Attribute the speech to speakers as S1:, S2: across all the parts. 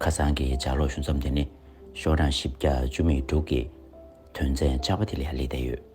S1: ཁ་སང་གི་ལྗགས་ཀློག་ཞུ་མཚམས་དེ་ནི་ཤོག་གྲངས་བཞི་བརྒྱ་བཅུ་མེད་དྲུག་གི་དོན་ཚན་བཅའ་བ་དེ་ལས་ཧ་ལས་འདས་ཡོད།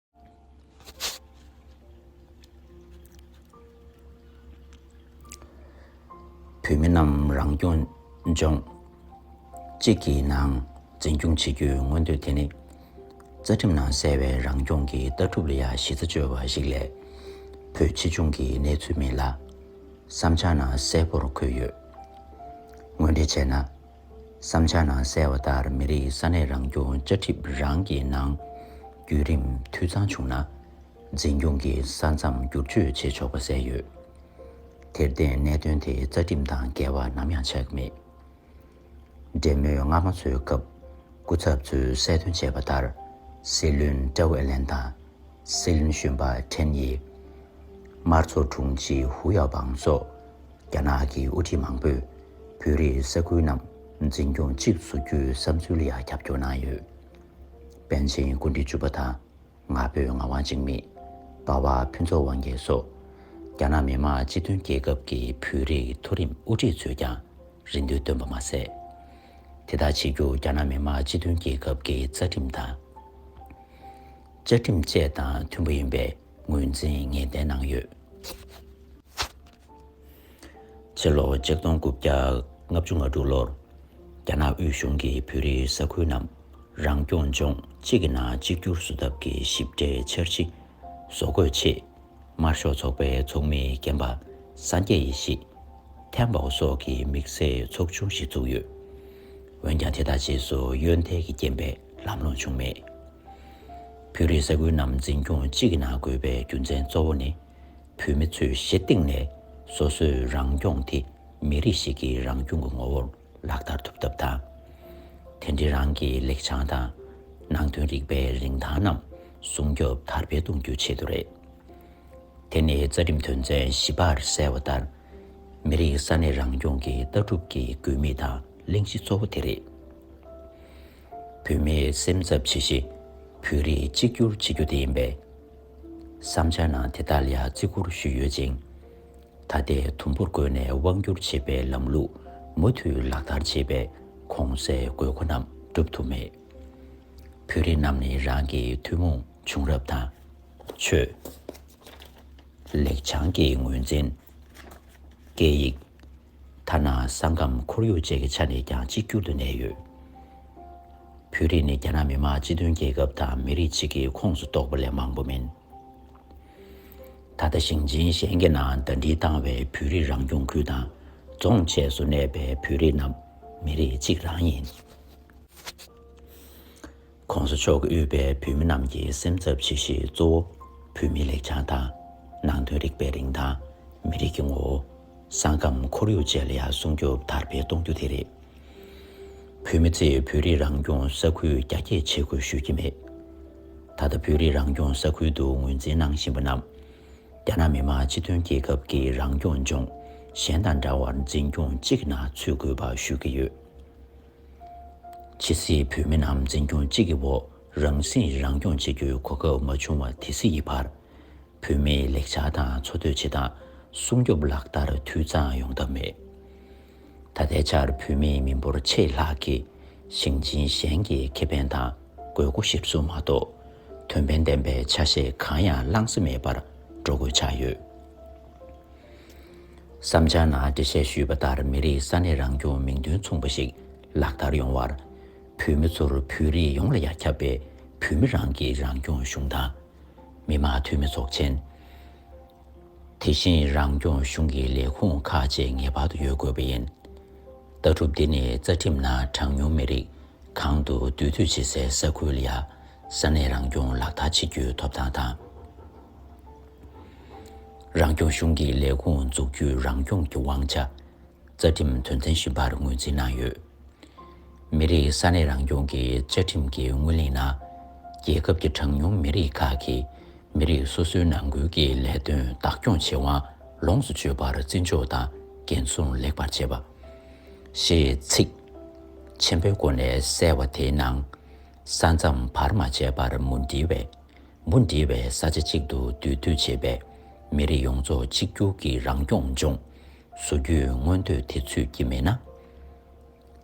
S1: བོད་མི་རྣམས་རང་སྐྱོང་ལྗོངས་གཅིག་གི་ནང་འཛིན་སྐྱོང་བྱེད་རྒྱུའི་མངོན་འདོད་དེ་ནི་རྩ་ཁྲིམས་ནང་གསལ་བའི་རང་སྐྱོང་གི་ལྟ་གྲུབ་ལ་ཡང་གཞི་རྩ་བཅོལ་བ་ཞིག་ལས་བོད་ཕྱི་ལྗོངས་ཀྱི་གནས་ཚུལ་མིན་ལ། བསམ་འཆར་ནང་གསལ་པོར་འཁོད་ཡོད། དངོས་འབྲེལ་བྱས་ན། བསམ་འཆར་ནང་གསལ་བ་ལྟར་མི་རིགས་ས་གནས་རང་སྐྱོང་བཅའ་ཁྲིམས་རང་གི་ནང། བརྒྱུད་རིམ་འཐུས་ཚང་བྱུང་ན། འཛིན་སྐྱོང་གི་ས་མཚམས་བསྒྱུར་བཅོས་བྱེད་ཆོག་པ་གསལ་ཡོད། དེར་བརྟེན་གནད་དོན་དེ་རྩ་ཁྲིམས་དང་འགལ་བ་ནམ་ཡང་ཆགས་ཀྱི་མེད། འབྲེལ་མོལ་སྔ་མ་འཚོལ་སྐབས་སྐུ་ཚབ་ཚོས་གསལ་སྟོན་བྱས་པ་ལྟར། སྲིད་བློན་ཀྲའུ་ཨེར་ལན་དང། སྲིད་བློན་གཞོན་པ་ཁྲེན་དབྱི། དམར་ཚོགས་དྲུང་ཆེ་ཧུའུ་ཡའོ་པང་སོགས། རྒྱ་ནག་གི་དབུ་ཁྲིད་མང་པོས་བོད་རིགས་ས་ཁུལ་རྣམས་འཛིན་སྐྱོང་གཅིག་བཟོ་རྒྱུའི་བསམ་ཚུལ་ཡང་རྒྱབ་སྐྱོར་གནང་ཡོད། པཎ་ཆེན་སྐུ་འདི་བཅུ་པ་དང་ང་ཕོད་ངག་དབང་འཇིགས་མེད། དཔའ་བ་ཕུན་ཚོགས་དབང་རྒྱལ་སོགས་རྒྱ་ནག་མི་དམངས་སྤྱི་མཐུན་རྒྱལ་ཁབ་ཀྱི་བོད་རིགས་མཐོ་རིམ་དབུ་ཁྲིད་ཚོས་ཀྱང་རེ་འདུན་བཏོན་པ་མ་ཟད། དེ་དག་བྱེད་རྒྱུ་རྒྱ་ནག་མི་དམངས་སྤྱི་མཐུན་རྒྱལ་ཁབ་ཀྱི་རྩ་ཁྲིམས་དང། བཅའ་ཁྲིམས་བཅས་དང་མཐུན་པ་ཡིན་པའི་ངོས་འཛིན་ངེས་གཏན་གནང་ཡོད། ཕྱི་ལོ་ཆིག་སྟོང་དགུ་བརྒྱ་ལྔ་བཅུ་ང་དྲུག་ལོར་རྒྱ་ནག་དབུས་གཞུང་གིས་བོད་རིགས་ས་ཁུལ་རྣམས་རང་སྐྱོང་ལྗོངས་གཅིག་གི་ནང་གཅིག་གྱུར་བཟོ་ཐབས་ཀྱི་ཞིབ་ཕྲའི་འཆར་གཞི་བཟོ་འགོད་ཆེད་དམར་ཤོག་ཚོགས་པའི་ཚོགས་མི་རྒན་པ་སངས་རྒྱས་ཡེ་ཤེས། ཐན་པའོ་སོགས་ཀྱི་དམིགས་བསལ་ཚོགས་ཆུང་ཞིག་བཙུགས་ཡོད། འོན་ཀྱང་དེ་དག་རྗེས་སུ་གཡོན་ཐལ་གྱི་རྐྱེན་པས་ལམ་ལྷོང་བྱུང་མེད། བོད་རིགས་ས་ཁུལ་རྣམས་འཛིན་སྐྱོང་གཅིག་གི་ནང་དགོས་པའི་རྒྱུ་མཚན་གཙོ་བོ་ནི། བོད་མི་ཚོས་གཞི་སྟེང་ནས་སོ་སོའི་རང་སྐྱོང་དེ་མི་རིགས་ཤིག་གི་རང་སྐྱོང་གི་ངོ་བོར་ལག་བསྟར་ཐུབ་ཐབས་དང། དེ་འབྲེལ་རང་གི་ལེགས་བྱང་དང། ནང་དོན་རིག་པའི་རིན་ཐང་རྣམས་སྲུང་སྐྱོབ་དར་སྤེལ་གཏོང་རྒྱུའི་ཆེད་དུ་རེད། དེ་ནི་རྩ་ཁྲིམས་དོན་ཚན་བཞི་པར་གསལ་བ་ལྟར། མི་རིགས་ས་གནས་རང་སྐྱོང་གི་ལྟ་གྲུབ་ཀྱི་དགོས་དམིགས་དང་གླེང་གཞི་གཙོ་བོ་དེ་རེད། བོད་མིའི་སེམས་འཚབ་ཆེ་གཞི་བོད་རིགས་གཅིག་གྱུར་བྱེད་རྒྱུ་དེ་ཡིན་པས། བསམ་འཆར་ནང་དེ་དག་ལ་བརྩི་བཀུར་ཞུས་ཡོད་ཅིང། ད་ལྟའི་དུམ་བུར་བཀོལ་ནས་དབང་བསྒྱུར་བྱེད་པའི་ལམ་ལུགས་མུ་མཐུད་ལག་བསྟར་བྱེད་པས་གོང་གསལ་དགོས་མཁོ་རྣམས་བསྒྲུབ་ཐུབ་མེད། བོད་རིགས་རྣམས་ནི་རང་གི་ཐུན་མོང་བྱུང་རབས་དང། ཆོས་ལེགས་བྱང་གི་ངོས་འཛིན། སྐད་ཡིག། ཐ་ན་ས་ཁམས་ཁོར་ཡུག་བཅས་ཀྱི་ཆ་ནས་ཀྱང་གཅིག་གྱུར་དུ་གནས་ཡོད། བོད་རིགས་ནི་རྒྱ་ནག་མི་དམངས་སྤྱི་མཐུན་རྒྱལ་ཁབ་དང་མི་རིགས་གཅིག་གི་ཁོངས་སུ་གཏོགས་པ་ལས་མང་པོ་མིན། ད་ལྟ་ཞིང་ཆེན་གཞན་གྱི་ནང་ཟླ་སྒྲིལ་བཏང་བའི་བོད་རིགས་རང་སྐྱོང་ཁུལ་དང་རྫོང་བཅས་སུ་གནས་པའི་བོད་རིགས་རྣམས་མི་རིགས་གཅིག་རང་ཡིན། ྋགོང་ས་མཆོག་གིས་དབུས་པའི་བོད་མི་རྣམས་ཀྱི་སེམས་འཚབ་བྱེད་གཞི་གཙོ་བོ། བོད་མིའི་ལེགས་བྱང་དང། ནང་དོན་རིག་པའི་རིན་ཐང། མི་རིགས་ཀྱི་ངོ་བོ། ས་ཁམས་ཁོར་ཡུག་བཅས་ལ་ཡང་སྲུང་སྐྱོབ་དར་སྤེལ་གཏོང་རྒྱུ་དེ་རེད། བོད་མི་ཚོས་བོད་རིགས་རང་སྐྱོང་ས་ཁུལ་རྒྱ་སྐྱེད་བྱེད་དགོས་ཞུ་གི་མེད། ད་ལྟ་བོད་རིགས་རང་སྐྱོང་ས་ཁུལ་དུ་ངོས་འཛིན་གནང་བཞིན་པ་རྣམས། རྒྱ་ནག་མི་དམངས་སྤྱི་མཐུན་རྒྱལ་ཁབ་ཀྱི་རང་སྐྱོང་ལྗོངས་གཞན་དང་འདྲ་བར་འཛིན་སྐྱོང་གཅིག་ནང་ཚུད་དགོས་པ་ཞུ་གི་ཡོད། ཕྱི་སྲིད་བོད་མི་རྣམས་འཛིན་སྐྱོང་གཅིག་གི་འོག་རང་སྲིད་རང་སྐྱོང་བྱེད་རྒྱུའི་གོ་སྐབས་མ་བྱུང་བ་དེ་སྲིད་ཀྱི་བར། བོད་མིའི་ལེགས་ཆ་དང་འཚོ་སྡོད་བྱེད་སྟངས་སྲུང་སྐྱོབ་ལག་བསྟར་འཐུས་ཚང་ཡོང་ཐབས་མེད། ད་ལྟའི་ཆར་བོད་མི་མི་འབོར་ཆེས་ལྷག་གིས་ཞིང་ཆེན་གཞན་གྱི་ཁེ་ཕན་དང་དགོས་མཁོ་གཞིར་བཟུང་མ་གཏོགས་དོན་ཕན་ལྡན་པའི་ཆ་ཤས་གང་ཡང་བླངས་ས་མེད་པར་འགྲོ་དགོས་ཆགས་ཡོད། བསམ་འཆར་ནང་འགྲེལ་བཤད་ཞུས་པ་ལྟར་མི་རིགས་ས་གནས་རང་སྐྱོང་མིང་དོན་མཚུངས་པ་ཞིག་ལག་བསྟར་ཡོང་བར། བོད་མི་ཚོར་བོད་རིགས་ཡོངས་ལ་ཡ་ཁྱབ་པའི་བོད་མི་རང་གི་རང་སྐྱོང་གཞུང་དང། མི་དམངས་འཐུས་མི་ཚོགས་ཆེན། དེ་བཞིན་རང་སྐྱོང་གཞུང་གི་ལས་ཁུངས་ཁག་བཅས་ངེས་པར་དུ་ཡོད་དགོས་པ་ཡིན། ལྟ་གྲུབ་འདི་ནི་རྩ་ཁྲིམས་ནང་གྲངས་ཉུང་མི་རིགས་གང་དུ་འདུས་སྡོད་བྱེད་སའི་ས་ཁུལ་ཡ་ས་གནས་རང་སྐྱོང་ལག་བསྟར་བྱེད་རྒྱུའི་ཐོབ་ཐང་དང། རང་སྐྱོང་གཞུང་གི་ལས་ཁུངས་འཛུགས་རྒྱུའི་རང་སྐྱོང་གི་དབང་ཆ། རྩ་ཁྲིམས་དོན་ཚན་བཞི་པར་ངོས་འཛིན་གནང་ཡོད། མི་རིགས་ས་གནས་རང་སྐྱོང་གི་བཅའ་ཁྲིམས་ཀྱི་སྔོན་གླེང་ནང། རྒྱལ་ཁབ་ཀྱི་གྲངས་ཉུང་མི་རིགས་ཁག་གིས་མི་རིགས་སོ་སོའི་ནང་ཁུལ་གྱི་ལས་དོན་བདག་སྐྱོང་བྱེད་དབང་ལོངས་སུ་སྤྱོད་པར་བརྩི་འཇོག་དང་འགན་སྲུང་ལེགས་པར་བྱེད་པ། ཞེས་ཚིག། ཆེན་པོའི་སྒོ་ནས་གསལ་བ་དེའི་ནང། ས་མཚམས་བར་མ་ཆད་པར་མུ་འབྲེལ་བས། མུ་འབྲེལ་བའི་ས་ཆ་གཅིག་ཏུ་འདུས་སྡོད་བྱས་པས། མི་རིགས་ཡོངས་རྫོགས་གཅིག་གྱུར་གྱི་རང་སྐྱོང་ལྗོངས་སུ་རྒྱུས་མངོན་དོད་དེ་ཚུད་ཀྱི་མེད་ན།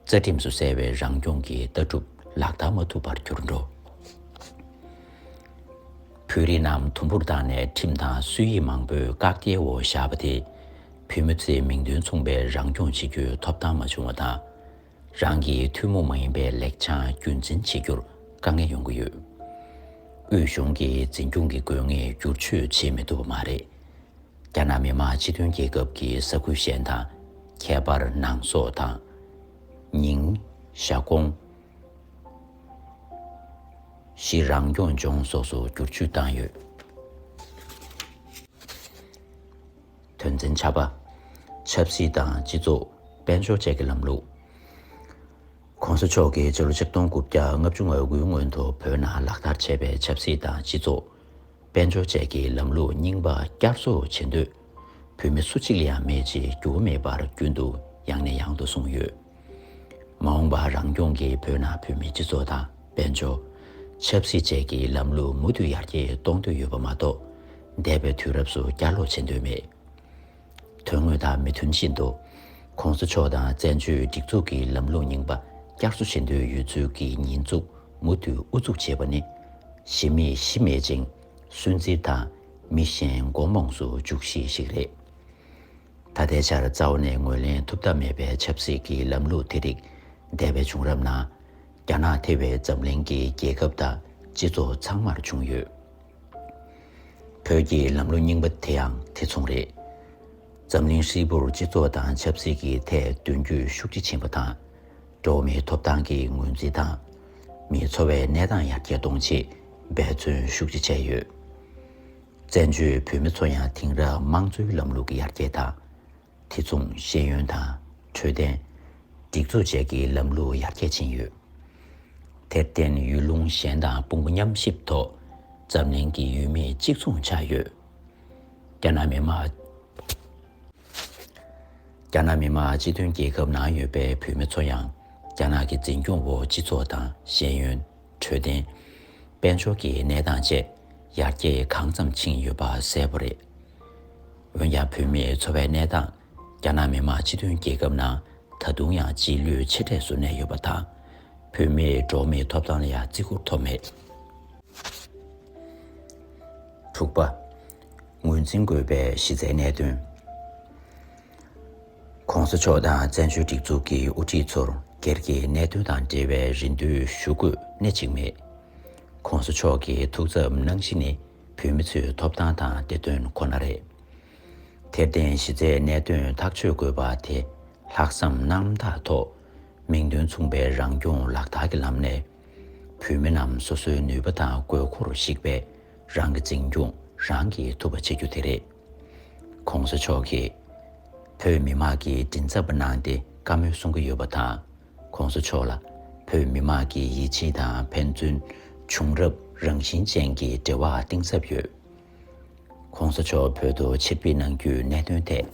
S1: རྩ་ཁྲིམས་སུ་གསལ་བའི་རང་སྐྱོང་གི་ལྟ་གྲུབ་ལག་བསྟར་མ་ཐུབ་པར་གྱུར་འགྲོ། བོད་རིགས་རྣམས་དུམ་བུར་བཏང་ནས་ཁྲིམས་དང་སྲོལ་ཡིག་མང་པོས་བཀག་རྒྱའི་འོག་བཞག་པ་དེས། བོད་མི་ཚོས་མིང་དོན་མཚུངས་པའི་རང་སྐྱོང་བྱེད་རྒྱུའི་ཐོབ་ཐང་མ་བྱུང་བ་དང། རང་གི་ཐུན་མོང་མ་ཡིན་པའི་ལེགས་ཆ་རྒྱུན་འཛིན་བྱེད་རྒྱུར་དཀའ་ངལ་ཡོང་གི་ཡོད། དབུས་གཞུང་གིས་འཛིན་སྐྱོང་གི་དགོས་ངེས་བསྒྱུར་བཅོས་བྱེད་མི་ཐུབ་པ་མ་རེད། རྒྱ་ནག་མི་དམངས་སྤྱི་མཐུན་རྒྱལ་ཁབ་ཀྱི་ས་ཁུལ་གཞན་དང་ཁྱད་པར་ནང་སོག་དང། ཉིང། ཞཱ་ཀོང། ཞི་རང་སྐྱོང་ལྗོངས་སོགས་སུ་བསྒྱུར་བཅོས་བཏང་ཡོད། དོན་ཚན་ཆ་པ། ཆབ་སྲིད་དང་སྤྱི་ཚོགས། དཔལ་འབྱོར་བཅས་ཀྱི་ལམ་ལུགས། གོང་ས་མཆོག་གིས་ཕྱི་ལོ་ཆིག་སྟོང་དགུ་བརྒྱ་ལྔ་བཅུ་ང་དགུའི་སྔོན་དུ་བོད་ནང་ལག་བསྟར་བྱས་པའི་ཆབ་སྲིད་དང་སྤྱི་ཚོགས། དཔལ་འབྱོར་བཅས་ཀྱི་ལམ་ལུགས་རྙིང་པ་བསྐྱར་གསོ་བྱེད་འདོད་བོད་མི་སུ་གཅིག་ལ་ཡང་མེད་ཅེས་འགྱུར་བ་མེད་པར་རྒྱུན་དུ་ཡང་ནས་ཡང་དུ་གསུངས་ཡོད། མ་འོངས་པར་རང་སྐྱོང་གིས་བོད་ནང་བོད་མིའི་སྤྱི་ཚོགས་དང་དཔལ་འབྱོར། ཆབ་སྲིད་བཅས་ཀྱི་ལམ་ལུགས་མུ་མཐུད་ཡར་རྒྱས་གཏོང་འདོད་ཡོད་པ་མ་གཏོགས། འདས་པའི་དུས་རབས་སུ་བསྐྱར་ལོག་བྱེད་འདོད་མེད། དོན་དངོས་དང་མི་མཐུན་བཞིན་དུ། ཁོང་ཚོ་ཕྱོགས་དང་བཙན་བྱོལ་སྒྲིག་འཛུགས་ཀྱི་ལམ་ལུགས་རྙིང་པ་བསྐྱར་གསོ་བྱེད་འདོད་ཡོད་ཚུལ་གྱི་ཉེས་འཛུགས་མུ་མཐུད་ཨུ་ཚུགས་བྱེད་པ་ནི། གཞི་མེད་གཞི་མེད་ཅིང་སུན་གཙེར་དང་མི་གཞན་མགོ་རྨོངས་སུ་འཇུག་གཞི་ཞིག་རེད། ད་ལྟའི་ཆར་རྩ་བ་ནས་ངོས་ལེན་ཐུབ་ཐབས་མེད་པའི་ཆབ་སྲིད་ཀྱི་ལམ་ལུགས་དེ་རིགས་འདས་པའི་བྱུང་རབས་ནང། རྒྱ་ནག་ཐེ་བའི་འཛམ་གླིང་གི་རྒྱལ་ཁབ་དང་སྤྱི་ཚོགས་ཚང་མར་བྱུང་ཡོད། བོད་ཀྱི་ལམ་ལུགས་རྙིང་པ་དེའང་དེ་མཚུངས་རེད། འཛམ་གླིང་ཧྲིལ་པོར་སྤྱི་ཚོགས་དང་ཆབ་སྲིད་ཀྱི་ཐད་མདུན་སྐྱོད་ཤུགས་ཆེ་ཕྱིན་པ་དང། འགྲོ་བ་མིའི་ཐོབ་ཐང་གི་ངོས་འཛིན་དང། མིའི་འཚོ་བའི་གནས་སྟངས་ཡར་རྒྱས་གཏོང་ཆེད་འབད་བརྩོན་ཤུགས་ཆེ་བྱས་ཡོད། བཙན་བྱོལ་བོད་མི་ཚོ་ཡང་དེང་རབས་དམངས་གཙོའི་ལམ་ལུགས་ཀྱི་ཡར་རྒྱས་དང། དེ་མཚུངས་ཤེས་ཡོན་དང་འཕྲོད་བསྟེན། སྒྲིག་འཛུགས་བཅས་ཀྱི་ལམ་ལུགས་ཡར་རྒྱས་ཕྱིན་ཡོད། དེར་བརྟེན་ཡུལ་ལུང་གཞན་དང་དཔུང་པ་མཉམ་གཤིབ་ཐོག་འཛམ་གླིང་གི་ཡུལ་མི་གཅིག་མཚུངས་ཆགས་ཡོད། རྒྱ་ནག་མི་དམངས། རྒྱ་ནག་མི་དམངས་སྤྱི་མཐུན་རྒྱལ་ཁབ་ནང་ཡོད་པའི་བོད་མི་ཚོ་ཡང་རྒྱ་ནག་གི་འཛིན་སྐྱོང་འོག་སྤྱི་ཚོགས་དང་ཤེས་ཡོན། འཕྲོད་བསྟེན། དཔལ་འབྱོར་གྱི་གནས་སྟངས་བཅས་ཡར་རྒྱས་གང་ཙམ་ཕྱིན་ཡོད་པ་གསལ་པོ་རེད། འོན་ཀྱང་བོད་མིའི་འཚོ་བའི་གནས་སྟངས་རྒྱ་ནག་མི་དམངས་སྤྱི་མཐུན་རྒྱལ་ཁབ་ནང་ད་དུང་ཡང་རྗེས་ལུས་ཆེ་གྲས་སུ་གནས་ཡོད་པ་དང། བོད་མིའི་འགྲོ་བ་མིའི་ཐོབ་ཐང་ལ་ཡང་བརྩི་བཀུར་ཐོབ་མེད། དྲུག་པ། ངོས་འཛིན་དགོས་པའི་གཞི་རྩའི་གནད་དོན། ྋགོང་ས་མཆོག་དང་བཙན་བྱོལ་སྒྲིག་འཛུགས་ཀྱི་དབུ་ཁྲིད་ཚོར་སྒེར་གྱི་གནད་དོན་དང་འབྲེལ་བའི་རེ་འདུན་ཞུ་དགོས་གནད་གཅིག་མེད། ྋགོང་ས་མཆོག་གི་ཐུགས་འཚབ་གནང་གཞི་ནི་བོད་མི་ཚོའི་ཐོབ་ཐང་དང་བདེ་དོན་ཁོ་ན་རེད། དེར་བརྟེན་གཞི་རྩའི་གནད་དོན་ཐག་གཅོད་དགོས་པ་དེ་ལྷག་བསམ་རྣམ་དག་ཐོག་མིང་དོན་མཚུངས་པའི་རང་སྐྱོང་ལག་བསྟར་གྱི་ལམ་ནས་བོད་མི་རྣམས་སོ་སོའི་ནུས་པ་དང་དགོས་མཁོར་གཞིགས་པས་རང་གི་འཛིན་སྐྱོང་རང་གིས་ཐུབ་པ་བྱེད་རྒྱུ་དེ་རེད། གོང་ས་མཆོག་གིས་བོད་མི་དམངས་ཀྱི་མགྲིན་ཚབ་པ་གནང་སྟེ་བཀའ་མོལ་གསུང་གི་ཡོད་པ་དང་གོང་ས་མཆོག་ལ་བོད་མི་དམངས་ཀྱི་ཡིད་ཆེས་དང་ཕན་ཚུན་བྱུང་རབས་རང་བཞིན་ཅན་གྱི་འབྲེལ་བ་གཏིང་ཟབ་ཡོད། ྋགོང་ས་མཆོག་བོད་དུ་ཕྱིར་ཕེབས་གནང་རྒྱུའི་གནད་དོན་ཐད།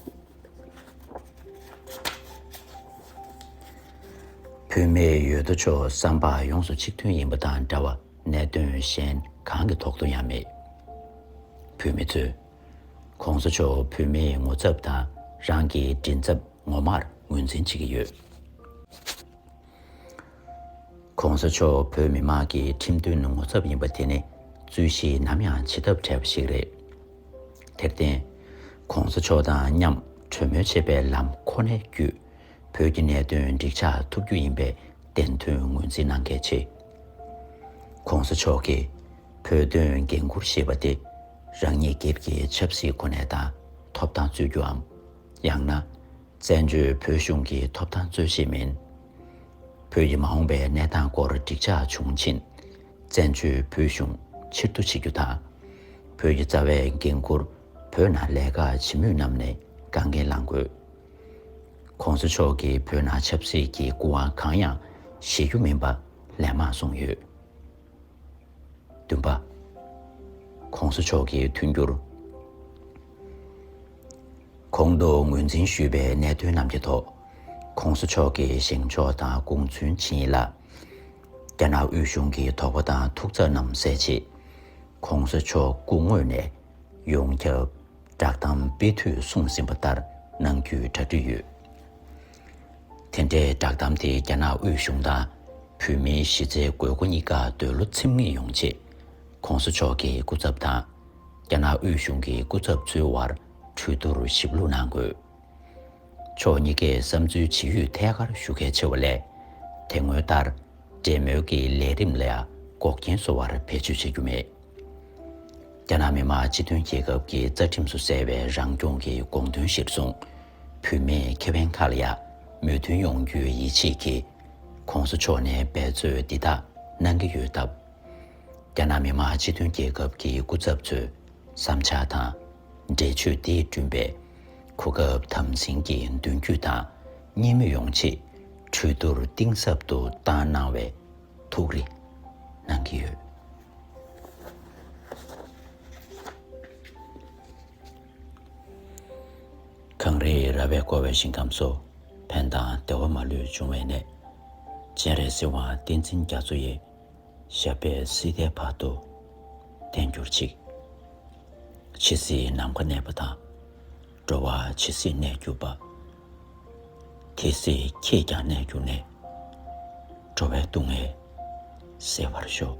S1: བོད་མི་ཡོད་དོ་ཅོག་བསམ་པ་ཡོངས་སུ་གཅིག་མཐུན་ཡིན་པ་དང་འདྲ་བ་གནད་དོན་གཞན་གང་གི་ཐོག་ཏུ་ཡང་མེད། བོད་མི་ཚོས ྋགོང་ས་མཆོག་བོད་མིའི་ངོ་ཚབ་དང་རང་གི་མགྲིན་ཚབ་ངོ་མར་ངོས་འཛིན་བྱེད་ཀྱི་ཡོད། ྋགོང་ས་མཆོག་བོད་མི་དམངས་ཀྱི་ཁྲིམས་མཐུན་ངོ་ཚབ་ཡིན་པ་དེ་ནི་རྩོད་གཞི་ནམ་ཡང་བྱེད་ཐབས་བྲལ་བ་ཞིག་རེད། དེར་བརྟེན། ྋགོང་ས་མཆོག་དང་མཉམ་གྲོས་མོལ་བྱེད་པའི་ལམ་ཁོ་ནའི་བརྒྱུད་བོད་ཀྱི་གནད་དོན་འགྲིག་ཆགས་ཐུབ་རྒྱུ་ཡིན་པའི་བདེན་དོན་ངོས་འཛིན་གནང་གལ་ཆེ། ྋགོང་ས་མཆོག་གིས་བོད་དོན་འགན་འཁུར་ཞེས་པ་དེ་རང་ཉིད་སྒེར་གྱི་ཆབ་སྲིད་གོ་གནས་དང་ཐོབ་ཐང་རྩོད་རྒྱུའམ། ཡང་ན་བཙན་བྱོལ་བོད་གཞུང་གི་ཐོབ་ཐང་རྩོད་གཞི་མིན། བོད་ཀྱི་མ་འོངས་པའི་གནས་སྟངས་སྐོར་འགྲིག་ཆགས་བྱུང་ཕྱིན། བཙན་བྱོལ་བོད་གཞུང་ཕྱིར་བསྡུ་བྱེད་རྒྱུ་དང། བོད་ཀྱི་རྩ་བའི་འགན་འཁུར་བོད་ནང་ལས་ཀ་བྱེད་མུས་རྣམས་ནས་དགའ་འགན་བླང་དགོས། གོང་ས་མཆོག་གིས་བོད་ནང་ཆབ་སྲིད་ཀྱི་སྐུ་དབང་གང་ཡང་བཞེས་རྒྱུ་མིན་པ་ལན་མང་གསུངས་ཡོད། བདུན་པ། གོང་ས་མཆོག་གིས་མཐུན་འགྱུར་གོང་དུ་ངོས་འཛིན་ཞུས་པའི་གནད་དོན་རྣམས་ཀྱི་ཐོག་གོང་ས་མཆོག་གིས་བཞེངས་ཕྱོགས་དང་དགོངས་ཚུལ་མཆིས་ཡིན་ལ། རྒྱ་ནག་དབུས་གཞུང་གི་དོགས་པ་དང་ཐུགས་འཚབ་རྣམས་སེལ་ཆེད་གོང་ས་མཆོག་སྐུ་དངོས་ནས་ཡོངས་ཁྱབ་བསྒྲགས་གཏམ་སྤེལ་དུས་གསུངས་ཟིན་པ་ལྟར་གནང་རྒྱུའི་གྲ་སྒྲིག་ཡོད། དེ་འདྲའི་བསྒྲགས་གཏམ་དེ་རྒྱ་ནག་དབུས་གཞུང་དང་བོད་མིའི་གཞི་རྩའི་དགོས་མཁོ་གཉིས་ཀ་འདོད་བློ་ཚིམ་ངེས་ཡོང་ཆེད། ྋགོང་ས་མཆོག་གི་སྐུ་ཚབ་དང། རྒྱ་ནག་དབུས་གཞུང་གི་སྐུ་ཚབ་ཚོའི་དབར་གྲོས་བསྡུར་ཞིབ་ལྷུག་གནང་དགོས། ཕྱོགས་གཉིས་ཀས་བསམ་ཚུལ་ཇི་ཡོད་ཐད་ཀར་ཞུ་གལ་ཆེ་བ་ལས། དེ་སྔོན་ལྟར་འབྲེལ་མོལ་གྱི་ལས་རིམ་ལ་འགོག་རྐྱེན་བཟོ་བར་བེད་སྤྱོད་བྱེད་རྒྱུ་མེད། རྒྱ་ནག་མི་དམངས་སྤྱི་མཐུན་རྒྱལ་ཁབ་ཀྱི་རྩ་ཁྲིམས་སུ་གསལ་བའི་རང་སྐྱོང་གི་དགོངས་དོན་གཞིར་བཟུང། བུད་མེད་ཁེ་དབེན་ཁག་ལ་ཡང་མོས་མཐུན་ཡོང་རྒྱུའི་ཡིད་ཆེས་ཀྱིས ྋགོང་ས་མཆོག་ནས་འབད་རྩོད་འདི་དག་གནང་གི་ཡོད་སྟབས། རྒྱ་ནག་མི་དམངས་སྤྱི་མཐུན་རྒྱལ་ཁབ་ཀྱི་སྐུ་ཚབ་ཚོས་བསམ་འཆར་དང་འབྲེལ་ཆོས་འདི་བསྐྲུན་པའི་གོ་སྐབས་དམ་འཛིན་གྱིས་མདུན་སྐྱོད་དང་གཉིས་མོས་ཡོང་ཆེད་གྲོས་བསྡུར་གཏིང་ཟབ་ཏུ་བཏང་གནང་བས་ཐུགས་རེ་གནང་གི་ཡོད། གངས་རིའི་ར་བས་བསྐོར་བའི་ཞིང་ཁམས་སུ། ཕན་དང་བདེ་བ་མ་ལུས་འབྱུང་བའི་གནས། སྤྱན་རས་གཟིགས་དབང་བསྟན་འཛིན་རྒྱ་མཚོ་ཡི། ཞབས་པད་སྲིད་མཐའི་བར་དུ་བརྟན་གྱུར་ཅིག། འཆི་སྲིད་ནམ་མཁའ་གནས་པ་དང། འགྲོ་བ་ཇི་སྲིད་གནས་གྱུར་པ། དེ་སྲིད་ཁྱེད་ཀྱང་གནས་གྱུར་ནས། འགྲོ་བའི་སྡུག་བསྔལ་སེལ་བར་ཤོག།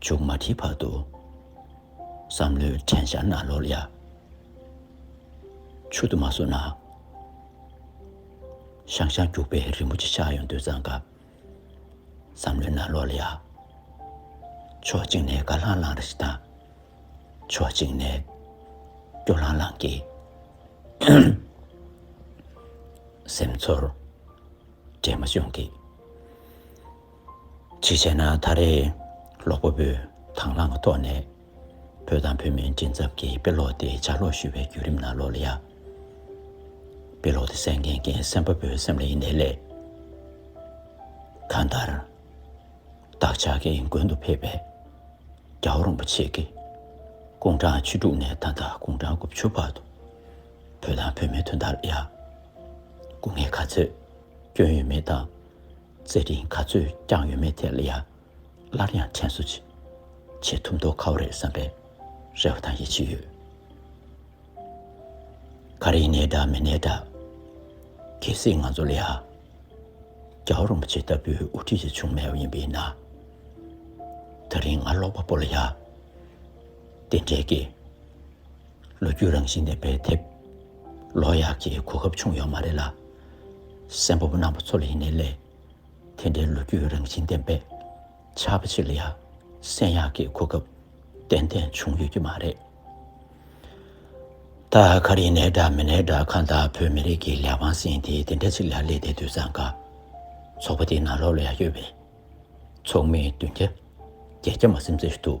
S1: མཇུག་མ་ཁྲིད་བར་དུ། བསམ་བློའི་དྲན་ཤར་ན་ལོ་ལ། མཆུ་ཏོ་མ་བཟོ་ན། ཤང་ཤང་རྒྱུག་པའི་རིན་པོ་ཆེ་ཆགས་ཡོང་དུས་གཙང་ཀ། བསམ་བློའི་ན་ལོ་ལ། ཕྱོགས་གཅིག་ནས་དགའ་ལྷང་ལྷང་རེ་ཞིག་དང། ཕྱོགས་གཅིག་ནས་སྐྱོ་ལྷང་ལྷང་གི། སེམས་ཚོར་འདྲེས་མ་བྱུང་གི། གཅིག་བྱས་ན་ད་རེས་ཀློག་པ་པོས་དང་བླངས་ཀྱི་ཐོག་ནས་བོད་དང་བོད་མིའི་མགྲིན་ཚབ་ཀྱི་དཔེ་ཀློག་དེ་ལྗགས་ཀློག་ཞུ་བའི་བརྒྱུད་རིམ་ནང་ཀློག་ལ་ཡ། དཔེ་ཀློག་དེ་གསན་མཁན་མཁན་སེམས་དཔའ་པོའི་སེམས་ལ་ཡི་ནས་ལས། གང་ལྟར། བདག་ཅག་གི་མགོན་དུ་ཕེབས་པའི་རྒྱ་བོ་རིན་པོ་ཆེ་གིས་དགུང་གྲངས་བཅུ་དྲུག་ནས་ད་ལྟ་དགུང་གྲངས་དགུ་བཅུ་བར་དུ་བོད་དང་བོད་མི་དོན་དག་ལ་ཡ། སྐུ་ངལ་ག་ཚོད་སྐྱོན་ཡོད་མེད་དང། རྩེད་རིགས་ག་ཚོད་བསྐྱངས་ཡོད་མེད་ཐད་ལ་ཡང་སླར་ཡང་དྲན་གསོ་ཅིག་བྱེད་ཐུབ་མདོག་ཁ་བོ་རེད་བསམ་པའི་རེ་བ་དང་ཡིད་ཆེས་ཡོད། ག་རེ་གནས་འདྲ་མི་གནས་འདྲ་གལ་སྲིད་ང་ཚོ་ལ་ཡང་རྒྱ་བོ་རིན་པོ་ཆེ་ལྟ་བུའི་དབུ་ཁྲིད་ཅིག་བྱུང་མེད་པ་ཡིན་པས་ན། ད་རིང་ང་ཀློག་པ་པོ་ལ་ཡང་དེ་འདྲའི་དགེ། ལོ་རྒྱུས་རང་བཞིན་ལྡན་པའི་དེབ་ལོ་ཡག་གི་གོ་སྐབས་བྱུང་ཡོད་མ་རེད་ལ། སེམས་བབ་སྣང་བ་ཚོ་ལ་ཡིན་ནའི་ལས། དེ་འདྲའི་ལོ་རྒྱུས་རང་བཞིན་ལྡན་པའི་ཆར་པ་ཞིག་ལ་ཡང་གསན་ཡག་གི་གོ་སྐབས་ཏན་ཏན་བྱུང་ཡོད་ཀྱི་མ་རེད། ད་ག་རེ་ནས་འདྲ་མི་ནས་འདྲ་གང་ལྟར་བོད་མི་རིགས་ཀྱི་ལས་དབང་ཟིན་ཏེ་དེ་འདྲ་ཞིག་ལ་སླེབས་ཏེ་དུས་བཟང་འགའ། ཚོགས་པ་དེ་ནང་ལོགས་ལ་ཡང་ཡོད་པས། ཚོགས་མིའི་མདུན་རྒྱ་རྒྱལ་རྒྱ་མ་སེམས་ཚེ་ཞུ་ཐུབ།